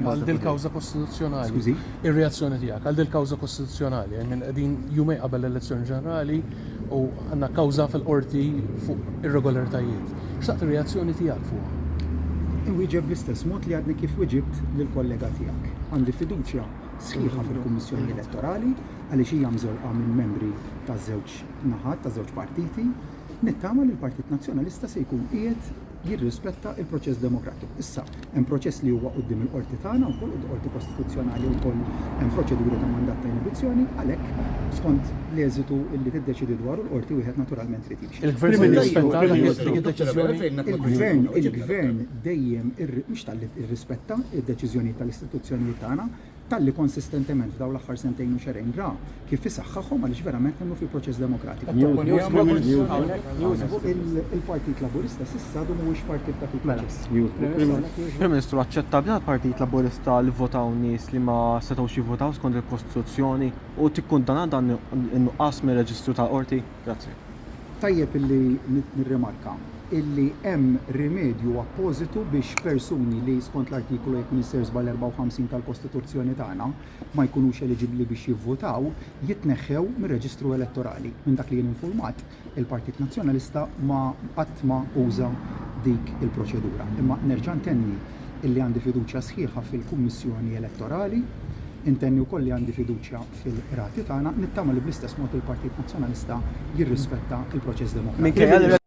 għal dil-kawża kostituzzjonali. Skużi? Ir-reazzjoni tiegħek għal dil-kawża kostituzzjonali, I mean qegħdin jumej qabel l-elezzjoni ġenerali u għandna kawża fil-qorti fuq irregolaritajiet. Xtaqt ir-reazzjoni tiegħek fuqha. Inwieġeb bl-istess mod li għadni kif wiġibt lill-kollega tiegħek. Għandi fiduċja sħiħa fil-Kummissjoni Elettorali għaliex hija mżewqa minn membri taż-żewġ naħat, taż-żewġ partiti. Nittama li l-Partit Nazzjonalista se jkun qiegħed jirrispetta l-proċess demokratiku. Issa, hemm proċess li huwa quddiem il-Qorti tagħna wkoll, quddiem il-Qorti Kostituzzjonali wkoll hemm proċeduri ta' mandat ta' inibizzjoni, għalhekk skont l-eżitu li tiddeċiedi dwaru l-Qorti wieħed naturalment irid jimxi. Il-Gvern se jirrispetta dik id-deċiżjoni? Il-Gvern dejjem, mhux talli rrispetta d-deċiżjonijiet tal-istituzzjonijiet tagħna, talli konsistentement f'dawn l-aħħar sentejn u xehrejn ra kif isaħħaħhom għaliex verament nemmnu fil-proċess demokratiku. Il-Partit Laburista s'issa għadu mhuwiex parti f'dak il-proċess. Prim Ministru, aċċettabbli għall-Partit Laburista li vvotaw nies li ma setgħux jivvotaw skont il-Kostituzzjoni u tikkundanna dan in-nuqqas mir-reġistru tal-Qorti? Grazzi. Tajjeb illi nirrimarka illi hemm rimedju appożitu biex persuni li, skont l-Artikolu jekk m'iniex ser żball 54 tal-Kostituzzjoni tagħna, ma jkunux eliġibbli biex jivvutaw, jitneħħew mir-reġistru elettorali. Minn dak li jien infurmat, il-Partit Nazzjonalista ma qatt ma uża dik il-proċedura. Imma nerġa' ntenni illi għandi fiduċja sħiħa fil-Kummissjoni Elettorali, intenni wkoll li għandi fiduċja il-qrati tagħna, nittama li bl-istess mod il-Partit Nazzjonalista jirrispetta l-proċess demokratiku.